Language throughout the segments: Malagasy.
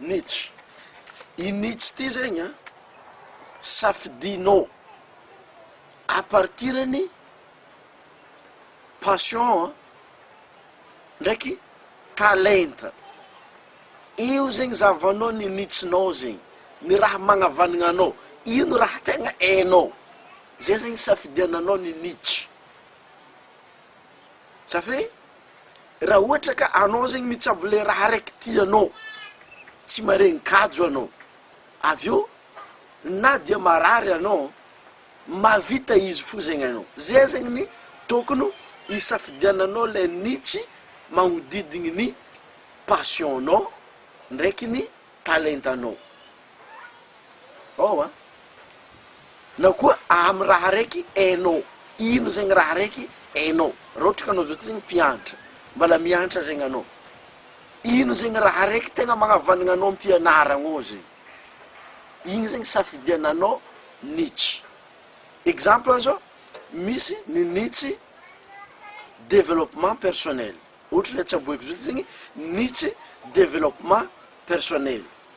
Nietzsche. I Nietzsche ity zegny an, safidinao à partir ny passion an, ndraiky talenta. Io zegny zahavanao ny Nietzsche-nao zegny, ny raha magnavaligna anao, ino raha tegna hainao, zay zegny safidiananao ny Nietzsche. Zafy? Raha ohatra ka anao zegny mitsabo le raha raiky tianao, tsy maregny kajo anao, avy eo na dia marary anao, mavita izy fo zegny anao. Zay zegny ny tokony hisafidiananao le niche magnodidigny ny passion-nao ndraiky ny talentanao. Ao an! Na koa amin'ny raha araiky hainao, ino zegny raha araiky hainao? Raha ohatra ka anao zao ty zegny mpianatra, mbala mianatra zegny anao, ino zegny raha araiky tegna magnavanagna anao am-pianaragnao zegny? Igny zegny safidiananao niche. Exemple zao, misy ny niche developpement personnel, ohatra le tsaboiko zao ty zegny niche developpement personnel.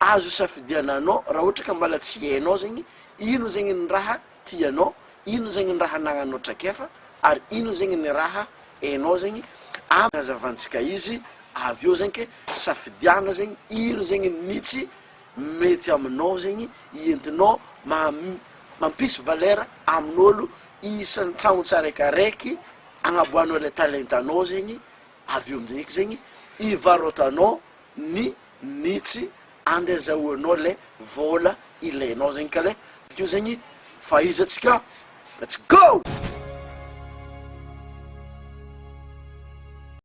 Azo safidiana anao raha ohatra ka mbala tsy hainao zegny ino zegny ny raha tianao, ino zegny ny raha anagnanao traikefa ary ino zegny ny raha hainao zegny am hazavantsika izy avy eo zegny ke safidiana zegny ino zegny mitsy mety aminao zegny entinao mam mampisy valeur amin'olo isan-tragno tsaraikaraiky agnaboahanao le talentanao zegny avy eo amizay eky zegny ivarotanao ny nitsy and azahoanao lay vola ilainao zegny ka lay bakeo zegny fahaizantsika let's go!